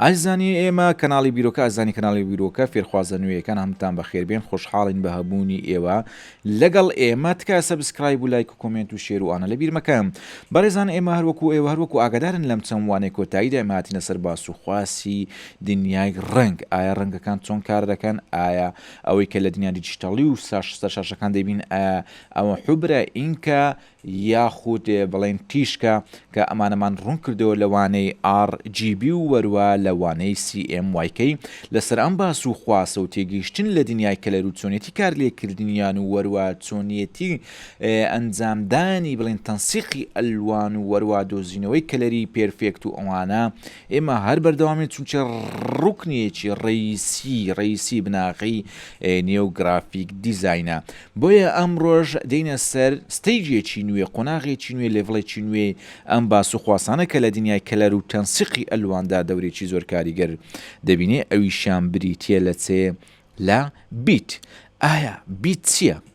ئای زانی ئێمە کەناڵی بیرۆکە ئەزانی کەناڵی بیرۆکە فێرخوازە نوێیەکان هەمتان بەخێر بێن خۆشحاڵین بە هەبوونی ئێوە لەگەڵ ئێمە تکایە سەبسکرایب و لایک و کۆمێنت و شێر و ئانە لەبیر مەکەم بەڕێزان ئێمە هەروەکو ئێوە هەروەکو ئاگادارن لەم چەند وانەی کۆتاییدا ئێمە هاتینە سەر باس و خواسی دنیای ڕەنگ ئایا ڕەنگەکان چۆن کار دەکەن ئایا ئەوەی کە لە دنیا دیجیتەڵی و ساش سەر شاشەکان دەبین ئایا ئەوە حبرە ئینکە یاخود بڵێین تیشکە، کە ئەمانەمان ڕوون کردەوە لە وانەی ئاڕ جی بی و وەروا لە وانەی سی ئێم وای کەی، لەسەر ئەم باس و خواسە و تێگەیشتن لە دنیای کەلەر و چۆنیەتی کار لێ کردنیان و وەروا چۆنیەتی ئەنجام دانی بڵێین تەنسیقی ئەلوان و وەروا دۆزینەوەی کەلەری پێرفێکت و ئەوانە ئێمە هەر بەردەوامین چونکە ڕوکنیەکی ڕیسی ڕیسی بناغەی نێو گرافیک دیزینە بۆیە ئەمڕۆژ دێنە سەر ستەیجێکی نوێ قۆناغێکی نوێ لێڤڵێکی نوێی ئەم باس و خواسانە کە لە دنیای کەلەر و تەنسیقی ئەلواندا دەورێکی زۆر کاریگەر دەبینێ ئەویشیان بریتیە لە چێ لە بیت ئایا بیت چیە؟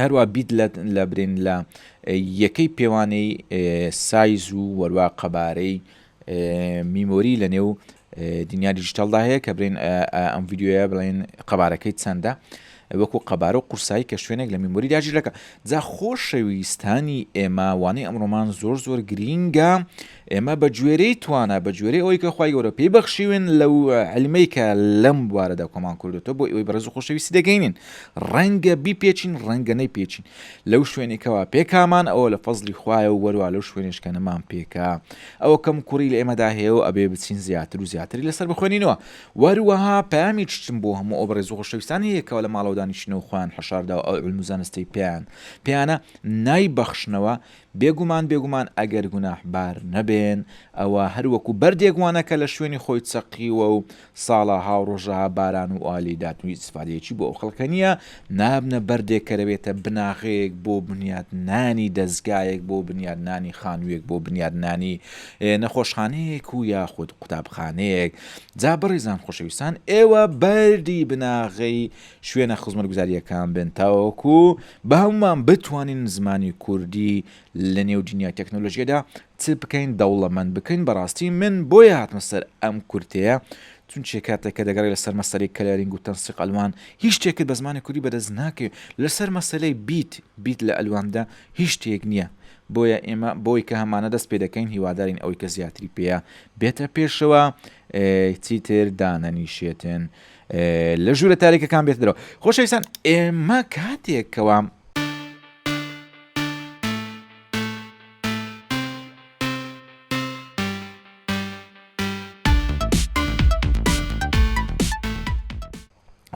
هەروا بیت لە برین لە یەکەی پێوانەی سایز و وەروا قەبارەی میمۆری لە نێو دنیا دیجیتالدا هەیە کە برین ئەم ویددیوە بڵێن قەبارەکەی چەندە وەکو قەبارە و قورسایی کە شوێنێک لە میمۆری داژیرەکە جا خۆشەویستانی ئێمە وانەی ئەمڕۆمان زۆر زۆر گرینگە ئێمە بە گوێرەی توانا، بە گوێرەی ئەوەی کە خوای گەورە پێی بەخشیوین لەو عیلمەی کە لەم بوارەدا کۆمان کردۆتەوە بۆ ئێوەی بەڕێز و خۆشەویستی دەگەینین. ڕەنگە بیپێچین، ڕەنگە نەیپێچین. لەو شوێنەی کەوا پێکامان ئەوە لە فەزڵی خوایە و وەروا لەو شوێنەیش کە نەمان پێکا ئەوە کەم کوڕی لە ئێمەدا هەیە و ئەبێ بچین زیاتر و زیاتری لەسەر بخوێنینەوە. وەروەها پەیامێکیشم بۆ هەموو ئەو بەڕێز و خۆشەویستانە هەیە کەوا لە ماڵەوە دانیشتنە و خۆیان حەشار داوە ئەو عیلم و زانستەی پێیان پێیانە نایبەخشنەوە بێگومان بێگومان ئەگەر گوناحبار نەبێن ئەوا هەر وەکو بەردێک وانە کە لە شوێنی خۆی چەقیوە و ساڵەها و ڕۆژەها باران و ئاوی لێدات و هیچ ئیسفادەیەکی بۆ ئەو خەڵکە نییە نابنە بەردێک کە دەبێتە بناغەیەک بۆ بنیاتنانی دەزگایەک بۆ بنیاتنانی خانوویەک بۆ بنیاتنانی نەخۆشخانەیەک و یاخود قوتابخانەیەک جا بەڕێزان خۆشەویستان ئێوە بەردی بناغەی شوێنە خزمەتگوزارییەکان بن تاوەکو بە هەمومان بتوانین زمانی کوردی لە نێو دنیای تەکنۆلۆژیەدا چ بکەین دەوڵەمەند بکەین بەڕاستی من بۆیە هاتمە سەر ئەم کورتەیە چون چێ کاتێکە دەگەڕی لەسەر مەسەری کەلەرینگ و تەنسیق ئەلوان هیچ شتێکت بە زمانی کوردی بەدەست ناکەێت لەسەر مەسلەی بیت بیت لە ئەلواندا هیچ شتێک نییە بۆیە ئێمە بۆی کە هەمانە دەست پێ دەکەین هیوادارین ئەوەی کە زیاتری پێەیە بێتە پێشەوە چیتر دانەنیشێتن لە ژوورە تاریکەکان بێت درەوە خۆشەویستان ئێمە کاتێک کەوام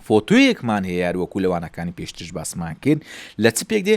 فۆتۆیەکمان هەیە یاروەکو لەوانەکانی پێشترش باسمان کرد لە چ پێک دێ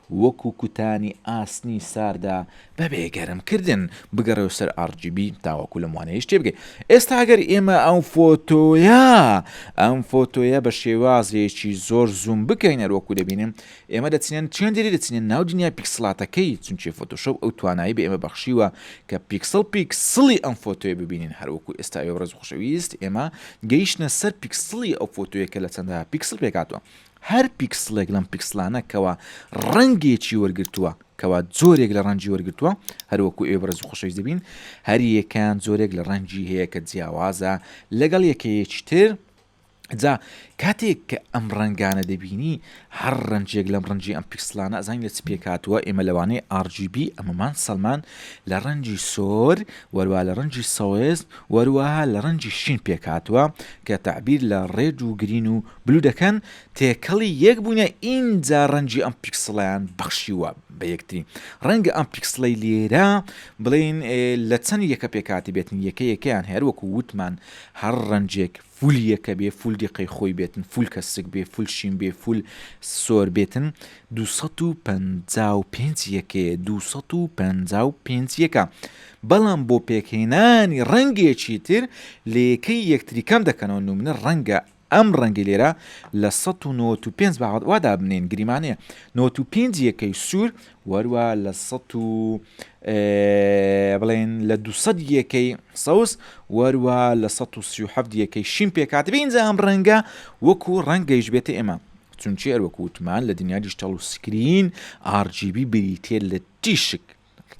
وەکو کوتانی ئاسنی ساردا بەبێ گەرم کردن بگەڕێوە سەر RGB تاوەکو لەم وانەیەش تێبگەی ئێستا گەر ئێمە ئەم فۆتۆیە ئەم فۆتۆیە بە شێوازێکی زۆر زووم بکەین هەر وەکو دەبینن ئێمە دەچنێن چێن دەری دەچنێن ناو دنیا پیکسلاتەکەی چونکی فۆتۆشۆپ ئەو توانایی بە ئێمە بەخشیوە کە پیکسل پیکسلی ئەم فۆتۆیە ببینین هەر وەکو ئێستا ئێوە ڕێز خوشەویست ئێمە گەیشتە سەر پیکسلی ئەو فۆتۆیە کە لە چەندە پیکسل پێکاتوە هەر پیکسڵێک لەم پیکسڵانە کەوا ڕەنگێکی وەرگرتووە کەوا جۆرێک لە ڕەنجی وەرگتووە هەروەکو ئێ بەڕز و خۆشەویست دەبین هەریەکان جۆرێک لە ڕەنجی هەیە کە جیاوازە لەگەڵ یەکەیەکی تر جا کاتێک کە ئەم ڕەنگانە دەبینی هەر ڕەنجێک لەم ڕەنجی ئەم پیکسلانە ئەزان لە چ پێکاتوە ئێمە لەوانەیە RGB ئەمەمان سەلمان لە ڕەنجی سۆر وەروا لە ڕەنجی سەوێست وەروەها لە ڕەنجی شین پێکاتوە کە تعبیر لە ڕێد و گرین و بلو دەکەن تێکەڵی یەک بوونە ئینجا ڕەنگی ئەم پیکسڵەیان بەخشیوە بە یەکتری ڕەنگە ئەم پیکسڵەی لێرە بڵێن لە چەند یەکە پێکاتی بێتن یەکە یەکەیان هەر وەکو وتمان هەر ڕەنجێک فول یەکە بێ فول دیقەی خۆی بێتن فول کە سک بێ فول شین بێ فول سۆر بێتن 255 یەکەیە 255 یەکە بەڵام بۆ پێکهێنانی ڕەنگێکی تر لە یەکەی یەکتری کەم دەکەنەوە نمونە ڕەنگە ئەم ڕەنگەی لێرە لە سەد و نەوەت و پێنج باوەت وا دابنێن گریمانەیە نەوەت و پێنج یەکەی سوور وەروە لە سەد و بڵێن لە دوسەد یەکەی سەوز وەروە لە سەد و سی و حەفت یەکەی شین پێکات بینجا ئەم ڕەنگە وەکو ڕەنگەیش بێتە ئێمە چونچی ئەروەکووتمان لە دنیا دیشتەڵ و سکرین RGB بریتێ لە تیشک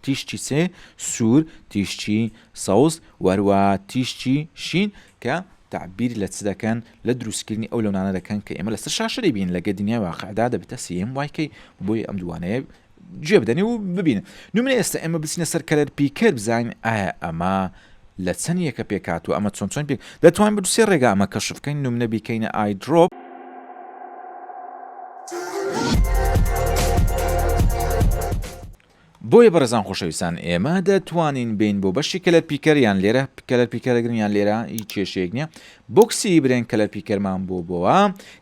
تیشکی سێ، سوور، تیشکی سەوز و هەروەها تیشکی شین کە تعبیر لە چ دەکەن لە دروستکردنی ئەو لەونانە دەکەن کە ئێمە لەسەر شاشە دەبین لەگە دنیای واقعدا دەبێتە سم وایکەی بۆی ئەم دوانەیە گوێ بدەنی و ببینن نمرە ئێستا ئێمە بچینە سەر کەلەر پیکەر بزانین ئایا ئەمە لە چەن یەکە پێک هاتوە ئەمە چۆن چۆن پێک دەتوانین بە دوسێ ڕێگا ئەمە کەشف بکەین نمنە بیکەینە ئای درۆپ. بۆیە بەڕێزان خۆشەویستان ئێمە دەتوانین بین بۆ بەشی کەلەر پیکەر یان لێرە کەلەر پیکەرەگرن یان لێرە هیچ کێشەیەک نییە بۆکسی برێن کەلەر پیکەرمان بۆ بۆە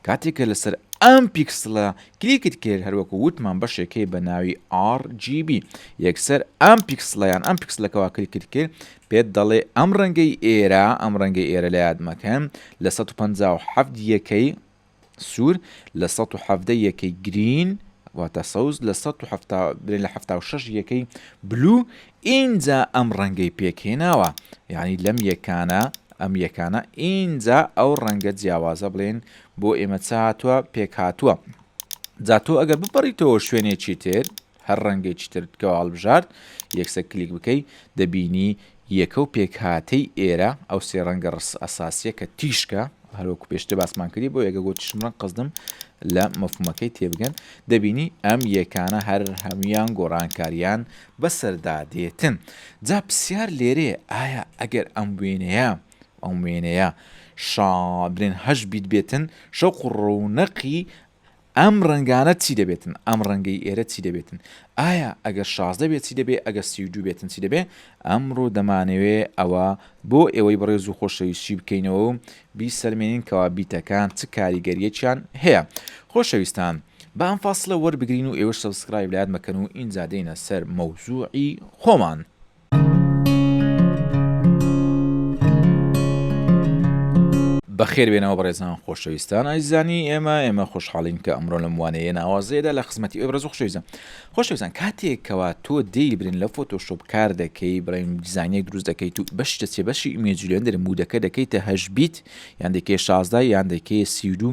کاتێکە لەسەر ئەم پیکسلە کلیکت کرد هەروەکو وتمان بەشێکەی بە ناوی RGB یەکسەر ئەم پیکسلە یان ئەم پیکسلەکە وا کلیکت کرد پێت دەڵێ ئەم ڕەنگەی ئێرە ئەم ڕەنگەی ئێرە لە یاد مەکەن لە 157 یەکەی سوور لە 1970 یەکەی گرین واتە سەوز لە 1970 لە 76 یەکەی بلو ئینجا ئەم ڕەنگەی پێک هێناوە یانی لەم یەکانە ئەم یەکانە ئینجا ئەو ڕەنگە جیاوازە بڵێن بۆ ئێمە چ هاتووە پێک هاتووە جا تۆ ئەگەر بپەڕیتەوە شوێنێکی تر هەر ڕەنگێکی ترت کەەوە هەڵبژارد یەکسە کلیک بکەی دەبینی یەکە و پێکهاتەی ئێرە ئەو سێ ڕەنگە ڕس ئەساسیە کە تیشکە هەروەکو پێشتە باسمان کردی بۆ یەگە گۆتیشم ڕەنگ قەزدم لە مەفمەکەی تێبگەن دەبینی ئەم یەکانە هەر هەمویان گۆڕانکاریان بەسەردا دێتن جا پسیار لێرەیە ئایا ئەگەر ئەم وێنەیە ئەم وێنەیە شا بلێن هەشت بیت بێتن شەوق و ڕەونەقی ئەم ڕەنگانە چی دەبێتن ئەم ڕەنگەی ئێرە چی دەبێتن ئایا ئەگەر شازدە بێت چی دەبێ ئەگەر سی و دوو بێتن چی دەبێ ئەمڕۆ دەمانەوێ ئەوە بۆ ئێوەی بەڕێز و خۆشەویستی بکەینەوە و بیسەلمێنین کەوا بیتەکان چ کاریگەریەکیان هەیە خۆشەویستان با ئەم فاسڵە وەربگرین و ئێوەش سەبسکرایب لایەت مەکەن و ئینجا دێینە سەر مەوزوعی خۆمان. بەخێر بێنەوە بەڕێزان خۆشەویستان ئایزانی ئێمە ئێمە خۆشحاڵین کە ئەمڕۆ لەم وانەیە ناوازەیەدا لە خزمەتی ئەو ڕێز خۆشەویستە خۆشەویستان کاتێک کەوا تۆ دەی برن لە فۆتۆشۆپ کار دەکەی بڵێن دیزانیە دروست دەکەیت و بەش دەچێ بەشی ئیمێجولێندر مودەکە دەکەیتە هەش بیت یان دەکەی شازدا یان دەکەی سیرو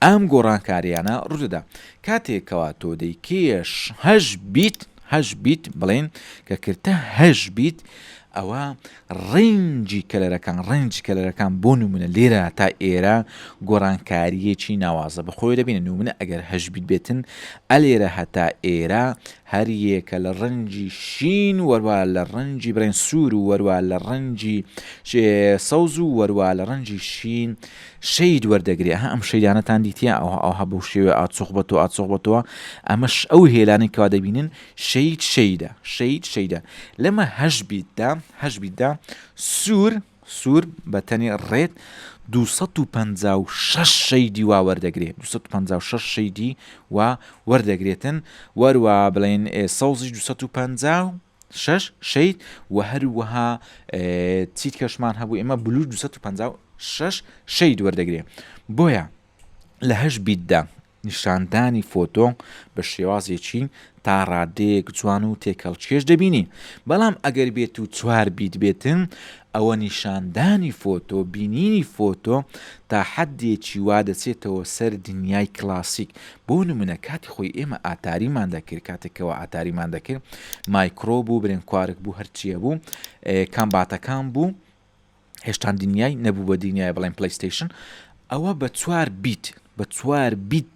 ئەم گۆڕانکاریانە ڕوودەدا کاتێک کەوا تۆ دەی کێش هەش بیت هەش بیت بڵێن کە کردتە هەش بیت ئەوە ڕێنجی کەلەرەکان، ڕێنجی کەلەرەکان بۆ نموونە لێرە تا ئێرە گۆڕانکارییەکی ناوازە بە خۆیەوە دەبینێت، نموونە ئەگەر هەشت بیت بێتن ئە لێرە هەتا ئێرە هەر یەکە لە ڕەنجی شین وەروا لە ڕەنجی برێن سوور و وەروا لە ڕەنجی سەوز و وەروا لە ڕەنجی شین شەید وەردەگرێ ها ئەم شەیدانەتان دیتە ئەوها ئەوها بەو شێوێ ئاچۆخ بەتەوە ئاچۆخ بەتەوە ئەمەش ئەو هێلانەی کەوا دەبینن شەید شەیدا شەید شەیدا لەمە هەش بیتدا هەش بیتدا سوور سوور بە تەنی ڕێت 256 شەیدی وا وەردەگرێت 256 شەیدی وا وەردەگرێتن وەروە بڵێن سەوزی 250 شش شەید و هەروەها چیت کەشمان هەبوو ئێمە بلوور 256 شەید وەردەگرێت بۆیە لە هەش بیتدا نیشاندانی فۆتۆ بە شێوازێکی تا ڕادەیەک جوان و تێکهەڵکێش دەبینی، بەڵام ئەگەر بێت و چوار بیت بێت، ئەوە نیشاندانی فۆتۆ، بینینی فۆتۆ تا حەددێکی وا دەچێتەوە سەر دنیای کلاسیک. بۆ نموونە کاتی خۆی ئێمە ئاتاریمان دەکرد، کاتێک کەوا ئاتاریمان دەکرد، مایکرۆ بوو، برێنکوارک بوو، هەرچییە بوو، کامباتەکان بوو، هێشتان دنیای نەبوو بە دنیای بڵێن پلەیستەیشن ئەوە بە چوار بیت بە چوار بیت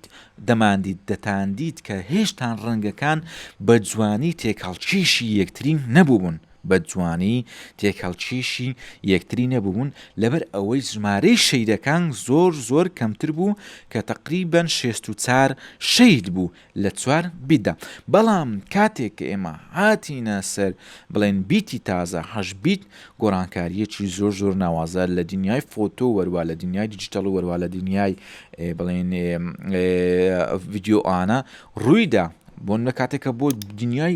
دەماندیت دەتاندیت کە هێشتان ڕەنگەکان بە جوانی تێکهڵکیشی یەکترین نەبوون بە جوانی تێکهڵکیشی یەکتری نەبوون لەبەر ئەوەی ژمارەی شەیدەکان زۆر زۆر کەمتر بوو کە تەقریبەن شێست و چار شەید بوو لە چوار بیتدا. بەڵام کاتێک کە ئێمە هاتینە سەر بڵێن بیتی تازە، هەشت بیت، گۆڕانکارییەکی زۆر زۆر ناوازە لە دنیای فۆتۆ وەروا لە دنیای دیجیتەڵ وەروا لە دنیای بڵێن ڤیدیۆانە ڕوویدا بۆن لە کاتێکە بۆ دنیای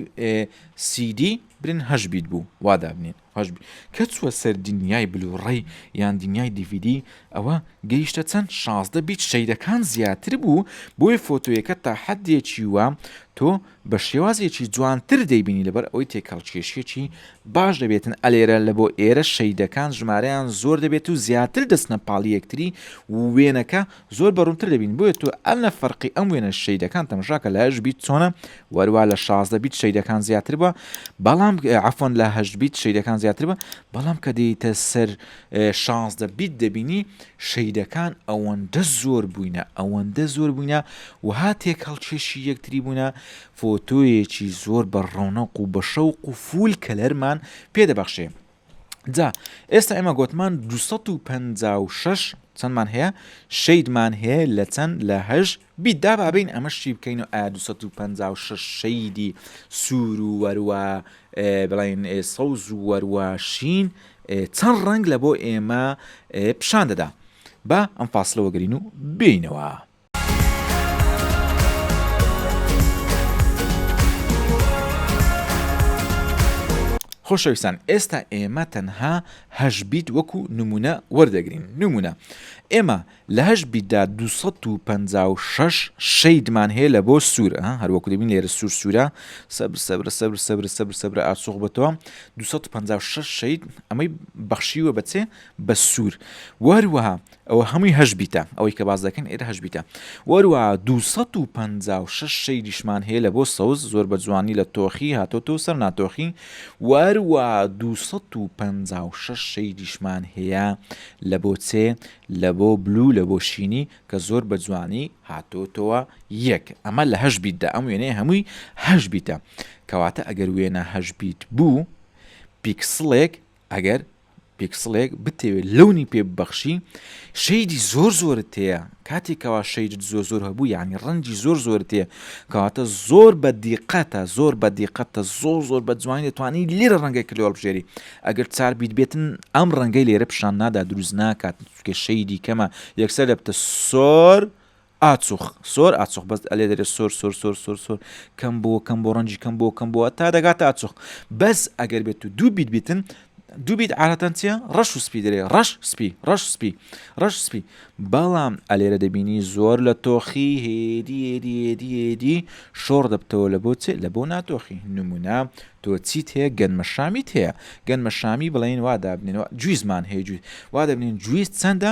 سیدی برن هەشت بیت بوو وا دابنێن. هەش بی کە چووە سەر دنیای بلوڕەی یان دنیای دیڤیدی ئەوە گەیشتە چەند شازدە بیت شەیدەکان زیاتر بوو بۆیە فۆتۆیەکە تا حەدێکی وا تۆ بە شێوازێکی جوانتر دەیبینی لەبەر ئەوەی تێکهەڵکێشیەکی باش دەبێتن ئەلێرە لە بۆ ئێرە شەیدەکان ژمارەیان زۆر دەبێت و زیاتر دەچنە پاڵی یەکتری و وێنەکە زۆر بە ڕوونتر دەبین بۆیە تۆ ئەنە فەرقی ئەم وێنە شەیدەکان تەمشا کە لە هەشت بیت چۆنە وەروا لە شازدە بیت شەیدەکان زیاتر بە بەڵام عفۆن لە هەشت بیت شەیدەکان زیاتر بە بەڵام کە دێیتە سەر شازدە بیت دەبینی شەیدەکان ئەوەندە زۆر بووینە ئەوەندە زۆر بووینە و هاتێک هەڵکێشی یەکتری بوونە فۆتۆیەکی زۆر بە ڕۆنەق و بە شەوق و فول کەلەرمان پێدەبەخشێ جا ئێستا ئێمە گۆتمان دو سەد و پەنجا و شەش چەندمان هەیە شەیدمان هەیە لە چەند لە هەژ بیت دا بابین ئەمە شی بکەین و ئا دو سەد و پەنجا و شەش شەیدی سوور و وەروە بڵین سەوز و وەروە شین چەند ڕەنگ لە بۆ ئێمە پیشان دەدا با ئەم فاسلەوە گرین و بینەوە. خۆشەویستان ئێستا ئێمە تەنها هەشت بیت وەکو نمونە وەردەگرین نمونە ئێمە لە هەشت بیتدا 256 شەیدمان هەیە لە بۆ سوورە هەروەکو دەبین لێرە سوور سوورە سەبر سەبرە سەبر سەبر سەبر سەبرە ئاسۆخ بەتەوە 256 شەید ئەمەی بەخشیوە بەچێ بە سوور وەروەها ئەوە هەمووی هەشت بیتە ئەوەی کە باس دەکەن ئێرە هەشت بیتە وەروە دوو سەد و پەنجا و شەش شەیدیشمان هەیە لە بۆ سەوز زۆر بە جوانی لە تۆخی هاتۆتە و سەر ناتۆخی وەروە دوو سەد و پەنجا و شەش شەیدیشمان هەیە لە بۆ چێ لە بۆ بلو لە بۆ شینی کە زۆر بە جوانی هاتۆتەوە یەک ئەمە لە هەشت بیتدا ئەم وێنەیە هەمووی هەشت بیتە کەواتە ئەگەر وێنە هەشت بیت بوو پیکسڵێک ئەگەر پیکسڵێک بتەوێ لەونی پێ ببەخشی شەیدی زۆر زۆرت هەیە کاتێک کەوا شەیدت زۆر زۆر هەبوو یعنی ڕەنجی زۆر زۆر تێ کەواتە زۆر بە دیقەتە زۆر بە دیقەتە زۆر زۆر بە جوانی دەتوانانی لێرە ڕەنگە کلۆڵ بژێری ئەگەر چار بیت بێتن ئەم ڕەنگەی لێرە پیشان نادا دروست ناکات چکە شەیدی کەمە یەکسەر دەبتە سۆر ئاچوخ سۆر ئاچوخ بەس ئەلێ دەرێ سۆر سۆر سۆر سۆر سۆر کەم بۆ کەم بۆ ڕەنجی کەم بۆ کەم بۆە تا دەگاتە ئاچوخ بەس ئەگەر بێت و دوو بیت بیتن دووبیت عادەتەن چیە ڕەش و سپی دەێ ڕەش سپی ڕەش سپی ڕەش سپی بەڵام ئەلێرە دەبینی زۆر لە تۆخی هێدیێدیێدیێدی شۆڕ دەبتەوە لە بۆ چێت لە بۆ ناتۆخی نمونە تۆ چیت هەیە گەنمە شامیت هەیە گەنمە شامی بڵێن وا دابنێنەوە جویزمان هەیە جویز وا دەبنین جویز چەندە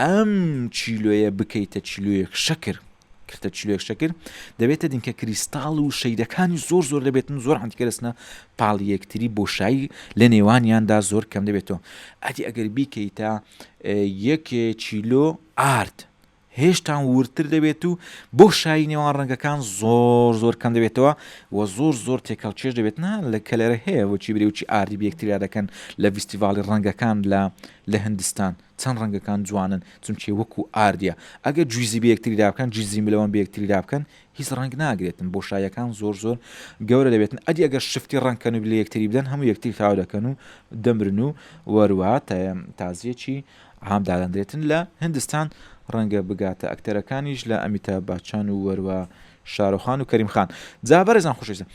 ئەم چیلۆیە بکەیتە چیلۆیەک شەکر کردە چیلۆیەک شەکر دەبێتە دینکە کریستاڵ و شەیدەکانی زۆر زۆر دەبێتن زۆر عندیکە دەستنە پاڵ یەکتری بۆشایی لە نێوانیاندا زۆر کەم دەبێتەوە ئەدی ئەگەر بیکەیتە یەک چیلۆ ئارد هێشتان ورتر دەبێت و بۆ شایی نێوان ڕەنگەکان زۆر زۆر کەم دەبێتەوە و زۆر زۆر تێکەڵ چێش دەبێت نا لە کەلەرە هەیە بۆچی برێوچی ئاردی بەکتریا دەکەن لە ڤستیڤاڵی ڕەنگەکان لە لە هندستان چەن ڕەنگەکان جوانن چونکی وەکو ئاردیە ئەگەر جویزی بەیەکتری دابکەن جیزی ملەوەن بەیەکتری دابکەن هیچ ڕەنگ ناگرێتن بۆشایەکان زۆر زۆر گەورە دەبێتن ئەدی ئەگەر شفتی ڕەنگکەن و لەیەکتری بدەن هەموو یەکتری تاو دەکەن و دەمرن و وەروە تازیەکی عام دادەندرێتن لە هندستان ڕەنگە بگاتە ئەکتەرەکانیش لە ئەمیتاب باچان و وەروە شارۆخان و کەریم خان جا بەرێزان خوشویستە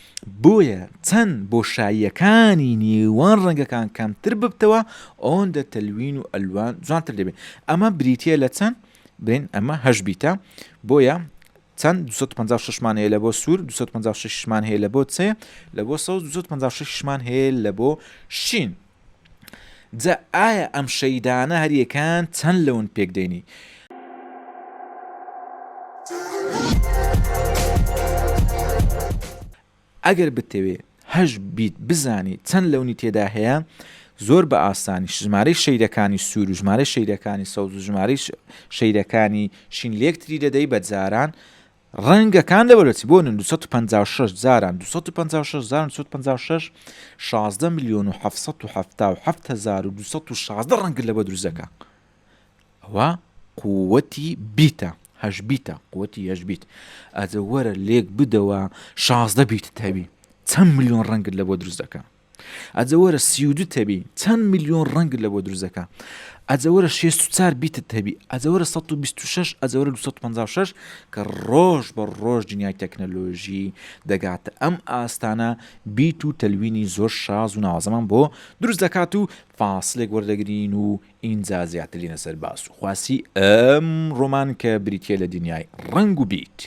بۆیە چەند بۆشاییەکانی نێوان ڕەنگەکان کەمتر ببتەوە ئەوەن دە تەلوین و ئەلوان جوانتر دەبێت ئەمە بریتە لە چەند بین ئەمە هەش بیتە بۆیە چەند 256 مان هەیە لە بۆ سوور 256 مان هەیە لە بۆ چێ لە بۆ 1956 مان هەیە لە بۆ شین جا ئایا ئەم شەیدانە هەر یەکان چەند لەون پێک دێنی؟ ئەگەر بتەوێ هەش بیت بزانی چەند لەونی تێدا هەیە زۆر بە ئاسانی ژمارەی شەیدەکانی سوور و ژمارە شەیدەکانی سەوز و ژمارەی شەیدەکانی شین لێکتری دەدەی بە جاران ڕەنگە کان لە بەربەچی بۆ نن دوسەد و پەنجا و شەش جاران دوسەد و پەنجا و شەش جاران دوسەد و پەنجا و شەش شازدە ملیۆن و حەفت سەد و حەفتا و حەفت هەزار و دوسەد و شازدە ڕەنگە لەوە دروست دەکا ئەوە قووەتی بیتە هەش بیتە قووەتی هەش بیت ئەجە وەرە لێک بدەوە شازدە بیت تەوی چەند ملیۆن ڕەنگت لە بۆ دروست دەکە ئەجە وەرە سی و دوت هەبی چەند ملیۆن ڕەنگت لە بۆ دروست دەکا ئەجە وەرە شێست و چار بیتت هەبی ئەجە وەرە 126 ئەجە وەرە 256 کە ڕۆژ بە ڕۆژ دنیای تەکنەلۆژی دەگاتە ئەم ئاستانە بیت و تەلوینی زۆر شاز و ناوازەمان بۆ دروست دەکات و فاسلێک وەردەگرین و ئینجا زیاتر دێینە سەر باس و خواسی ئەم ڕۆمان کە بریتیە لە دنیای ڕەنگ و بیت.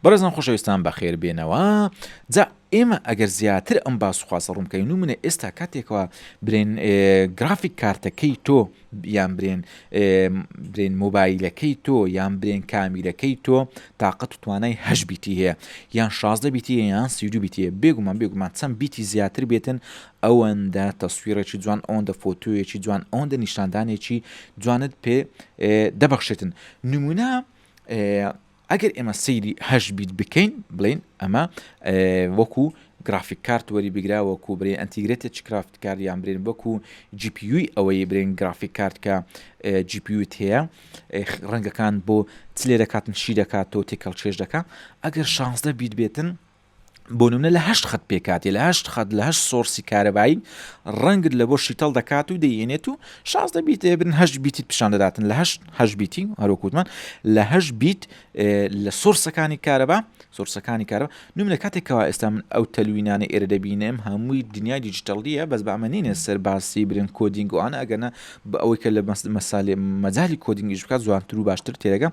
بەڕێزان خۆشەویستان بەخێر بێنەوە جا ئێمە ئەگەر زیاتر ئەم باسخواسە ڕوونکەین و منە ئێستا کاتێکەوە برێن گرافیک کارتەکەی تۆ یان برێن برێن مۆبایلەکەی تۆ یان برێن کامیرەکەی تۆ تااقەت و توانای هەش بیتی هەیە یان شازدە بیتی یان سیدو بیتە بێگومان بێگومان چەند بیتی زیاتر بێتن ئەوەندە تەسویرەکی جوان ئەوەندە فۆتویەکی جوان ئەوەندە نیشاندانێکی جوانت پێ دەبەخشێتن نمونە ئەگەر ئێمە سەیری هەشت بیت بکەین بڵێین ئەمە وەکو گرافیک کارت وەری بگرا وەکو برێن ئەتیگرێتە چکرافت کاریان برێن وەکو جیپیوی ئەوەی برێن گرافیک کارتکە جیپیوت هەیە ڕەنگەکان بۆ چلێ دەکاتن شی دەکاتەوە تێکەڵ چێش دەکە ئەگەر شانزدە بیت بێتن بۆنونە لە هەشت خەت پێکاتی لە هەشت خەت لە هەشت سۆرسی کارەبایی ڕەنگت لە بۆ شیتەڵ دەکات و دەیێنێت و شازدە بیت بن هەش بیتی پیشان دەداتن لە هەشت هەش بیتی هەروکوتمان لە هەش بیت لە سۆرسەکانی کارەبا سۆرسەکانی کارەوە نمونە کاتێکەوە ئێستا من ئەو تەلوینانە ئێرە دەبینم هەمووی دنیای دیجیتەڵیە بەس بەمەنینە سەر باسی برن کۆدینگوانە ئەگەنە بە ئەوەی کە لە مەسالی مەجای کۆدینگیش بکات جوانتر و باشتر تێدەگە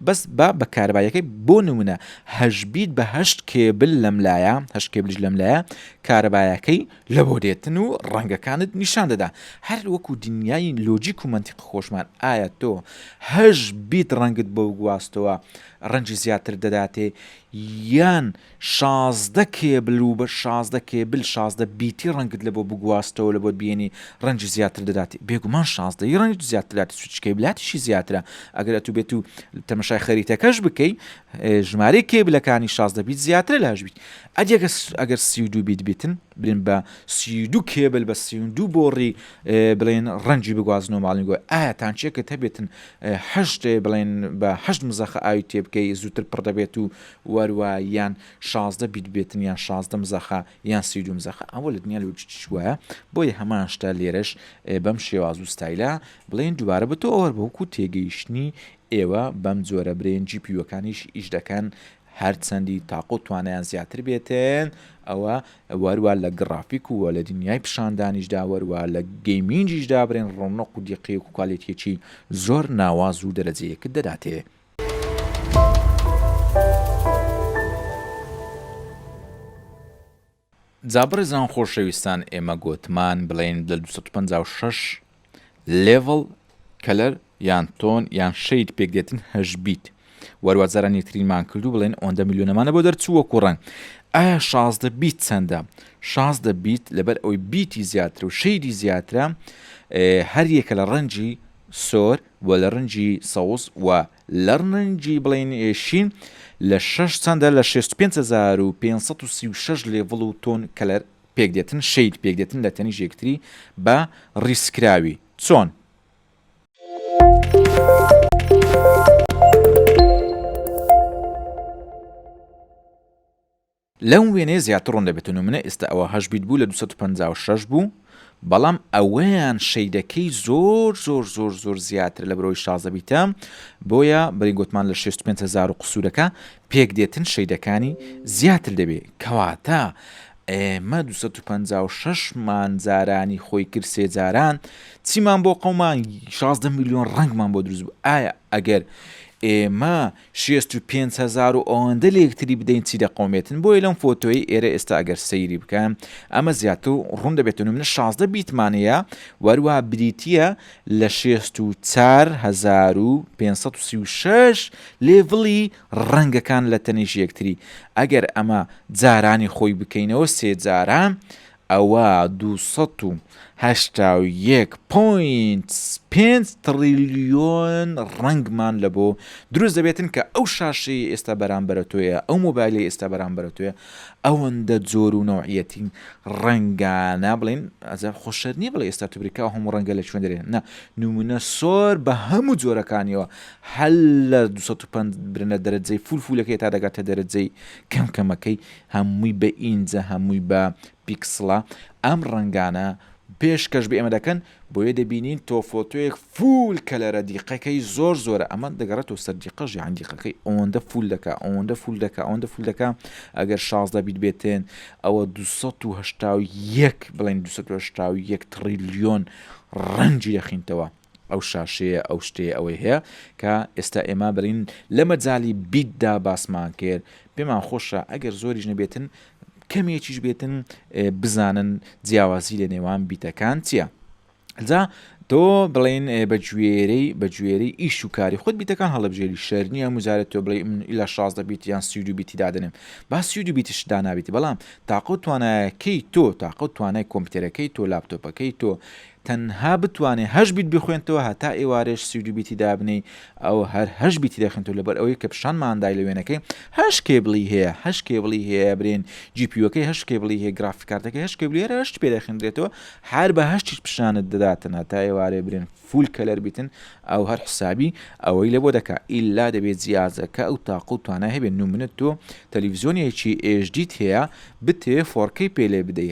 بەس با بە کارەبایەکەی بۆ نمونە هەشبیت بە هەشت کێبل لەم لایە هەشت کێبلیش لەم لایە کارەبایەکەی لە بۆ دێتن و ڕەنگەکانت نیشان دەدا هەر وەکو دنیای لۆجیک و منتیق خۆشمان ئایا تۆ هەش بیت ڕەنگت بۆ گواستەوە ڕەنجی زیاتر دەداتێ یان شازدە کێبل و بە شازدە کێبل شازدە بیتی ڕەنگت لەبۆ بگواستەوە لەبۆت بێنی ڕەنجی زیاتر دەداتی بێگومان شازدەی ڕەنج زیاتر دەداتی چونکە کێبلاتیشی زیاترە ئەگەر ئەتوو بێت و تەمەشای خەریتەکەش بکەی ژمارەی کێبلەکانی شازدە بیت زیاترە لاش بیت ئەدیەگە ئەگەر سی و دوو بیت بیتن بلێن بە سی و دوو کێبل بە سی و دوو بۆڕی بڵێن ڕەنجی بگوازن و ماڵنگۆ ئایا تانچێکت هەبێتن هەشت بڵێن بە هەشت مزەخە ئاوی تێبکەی زووتر پڕ دەبێت و وەروا یان شازدە بیت بێتن یان شازدە مزەخە یان سی و دوو مزەخە ئەوە لە دنیا لۆجیکیش وایە بۆیە هەمان شتە لێرەش بەم شێواز و ستایلە بڵێن دووبارە بە تۆ ئەوەر بەوکو تێگەیشتنی ئێوە بەم جۆرە برێن جی پیوەکانیش ئیش دەکەن هەرچەندی تاقە و توانیان زیاتر بێتن ئەوە وەروا لە گڕافیک و لە دنیای پیشاندانیشدا وەروا لە گەیمینجیشدا برێن ڕۆنق و دیقی و کوالێتیەکی زۆر ناواز و دەرەجەیەکت دەداتێ جا بەڕێزان خۆشەویستان ئێمە گۆتمان بڵێن لە 256 لێڤڵ کەلەر یان تۆن یان شەید پێکدێتن هەش بیت وەروازاران یەکترینمان کردو بڵێن ئۆندە میلیۆنەمانە بۆ دەرچووە کوڕنگ ئایا شازدە بیت چەندە شازدە بیت لەبەر ئەوی بیتی زیاتر و شەیدی زیاترە هەر یەکە لە ڕەنجی سۆر و لە رەنگی سەوز و لە رەنگی بڵێین شین لە شەش چەندە لە شێست و پێنج هەزار و پێنج سەد و سی و شەش لێڤڵ و تۆن کەلەر پێک دێتن شەید پێک دێتن لە تەنیشت یەکتری بە ریز کراوی چۆن؟ لەم وێنەیە زیاتر ڕوون دەبێت و نمونە ئیستا ئەوە هەشت بیت بوو لە دوو سەد و پەنجا و شەش بوو بەڵام ئەوەیان شەیدەکەی زۆر زۆر زۆر زۆر زیاترە لە برۆی شازدە بیتە بۆیە بەری گوتمان لە شێست و پێنج هەزار و قسوورەکە پێک دێتن شەیدەکانی زیاتر دەبێ کەواتە ئێمە دوو سەد و پەنجا و شەش مان جارانی خۆی کرد سێ جاران چیمان بۆ قەومان شازدە میلیۆن ڕەنگمان بۆ دروست بوو ئایا ئەگەر ئێمە شێست و پێنج هەزار و ئەوەندە لە یەکتری بدەین چی دەقەومێتن بۆیە لەم فۆتۆی ئێرە ئێستا ئەگەر سەیری بکەن ئەمە زیاتر ڕوون دەبێتن و منە شازدە بیتمان هەیە و هەروەها بریتییە لە شێست و چار هەزار و پێنج سەد و سی و شەش لێڤڵی ڕەنگەکان لە تەنیشت یەکتری ئەگەر ئەمە جارانی خۆی بکەینەوە سێ جارە ئەوا دوو سەد و هەشتا و یەک پۆینت پێنج تڕیلیۆن ڕەنگمان لەبۆ دروست دەبێتن کە ئەو شاشەی ئێستا بەرامبەرە تۆیە ئەو مۆبایلەی ئێستا بەرامبەرە تۆیە ئەوەندە جۆر و نەوعیەتی ڕەنگانە بڵین ئەزار خۆشەر نییە بڵێ ئێستا تبریکا و هەموو ڕەنگە لە چوێن دەێن نە نمونە سۆر بە هەموو جۆرەکانیەوە هەل لە 250 برنە دەرەجەی فولفولەکەی تا دەگاتە دەرەجەی کەم کەمەکەی هەمووی بە ئینجە هەمووی بە پیکسڵە ئەم ڕەنگانە پێش کەش بە ئێمە دەکەن بۆیە دەبینین تۆ فۆتۆیەک فول کەلەرە دیقەکەی زۆر زۆرە ئەمە دەگەڕێتەوە سەر دیقەژی یان دیقەکەی ئەوەندە فول دەکا ئەوەندە فول دەکا ئەوەندە فول دەکا ئەگەر شازدە بیت بێتێن ئەوە 1970 بڵێن 1970 تڕیلیۆن ڕەنگی دەخینتەوە ئەو شاشەیە ئەو شتەیە ئەوەی هەیە کە ئێستا ئێمە بەرین لە مەجالی بیت دا باسمان کرد پێمان خۆشە ئەگەر زۆریش نەبێتن کەمێکیش بێتن بزانن جیاوازی لە نێوان بیتەکان چییە جا تۆ بڵین بە گوێرەی بە گوێرەی ئیش و کاری خۆت بیتەکان هەڵبژێری شەر نییە مجارێت تۆ بڵێ من لە شازدە بیت یان سیود و بیتی دادنم با سیود و بیتش دانابیتی بەڵام تاقە و توانایەکەی تۆ تاقە و توانای کۆمپیوتەرەکەی تۆ لاپتۆپەکەی تۆ تەنها بتوانێ هەشت بیت بخوێنتەوە هەتا ئێوارێش سی و دوو بیتی دابنێی ئەو هەر هەشت بیتی دەخوێنتەوە لەبەر ئەوەی کە پیشان مان دای لە وێنەکەی هەشت کێبڵی هەیە هەشت کێبڵی هەیە برێن جی پی یوەکەی هەشت کێبڵی هەیە گرافیک کارتەکەی هەشت کێبڵی هەر هەشت پێ دەخوێندرێتەوە هەر بە هەشتیش پیشانت دەداتن هەتا ئێوارێ برێن فول کەلەر بیتن ئەو هەر حسابی ئەوەی لە بۆ دەکا ئیلا دەبێت جیازەکە ئەو تاق و توانای هەبێت نمونە تۆ تەلەڤیزیۆنێکی ئێژدیت هەیە بتەوێ فۆڕکەی پێ لێ بدەی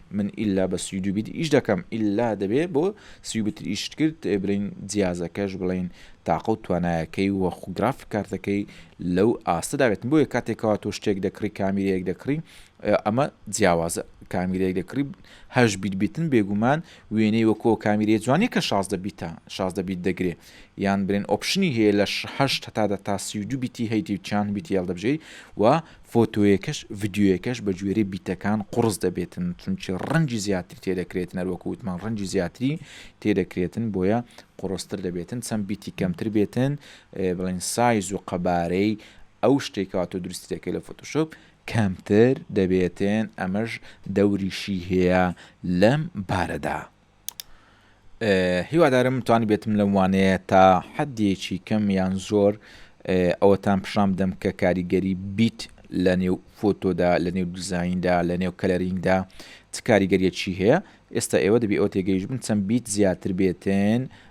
من ئیلا بە سی و دوو بیت ئیش دەکەم ئیلا دەبێ بۆ سی و بیت ئیشت کرد برین جیازەکەش بڵین تاقە و توانایەکەی وە خو گرافیک کارتەکەی لەو ئاستەدا بێت بۆیە کاتێکەوە تۆ شتێک دەکڕی کامیرەیەک دەکڕی ئەمە جیاوازە کامیرەیەک دەکڕی هەش بیت بیتن بێگومان وێنەی وەکۆ کامیرەیە جوانی کە شازدە بیتە شازدە بیت دەگرێ یان برێن ئۆپشنی هەیە لە هەشت هەتا دە تا سی و دوو بیتی هەیتی و چیان بیتی هێڵدەبژێری و فۆتۆیەکەش ڤیدیۆیەکەش بە گوێرەی بیتەکان قوڕس دەبێتن چونکی ڕەنگی زیاتری تێدەکرێتن هەر وەکو وتمان ڕەنگی زیاتری تێدەکرێتن بۆیە قوڕستر دەبێتن چەند بیتی کەمتر بێتن بڵێن سایز و قەبارەی ئەو شتێکەوە تۆ دروستی دەکەی لە فۆتۆشۆپ کەمتر دەبێتن ئەمەش دەوریشی هەیە لەم بارەدا. هیوادارم توانیبێتم لەم وانەیە تا حەدێکی کەم یان زۆر ئەوەتان پیشان بدەم کە کاریگەری بیت لە نێو فۆتۆدا لە نێو دیزیندا لە نێو کەلەرینگدا چ کاریگەریەکی هەیە ئێستا ئێوە دەبی ئەو تێگەیش بن چەند بیت زیاتر بێتن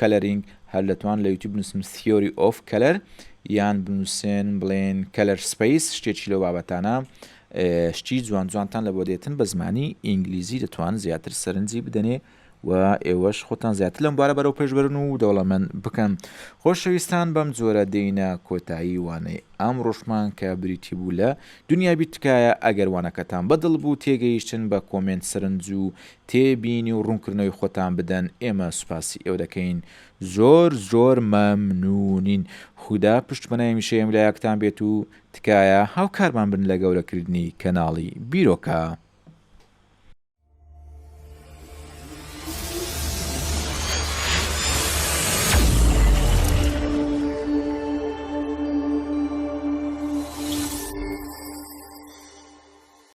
کەلەرینگ، هەر دەتوان لە یوتیوب بنووسن Theory of Color یان بنووسن بڵێن Color Space شتێکی لەو بابەتانە شتی جوان جوانتان لە بۆ دێتن بە زمانی ئینگلیزی دەتوان زیاتر سەرنجی بدەنێ و ئێوەش خۆتان زیاتر لەم بارە بەرەو پێشبرن و دەوڵەمەند بکەن خۆشەویستان بەم جۆرە دێینە کۆتایی وانەی ئەم ڕۆشمان کە بریتی بوو لە دنیابی تکایە ئەگەر وانەکەتان بەدڵ بوو تێگەیشتن بە کۆمنت سەرنج و تێ بینی و ڕونکردنەوەی خۆتان بدەن ئێمە سوپاسی ئێوە دەکەین زۆر زۆر مە ممنونین خودا پشت بە نایمیشە یم لایەکتان بێت و تکایە هاوکارمان بن لە گەورە کردنی کەناڵی بیرۆکە.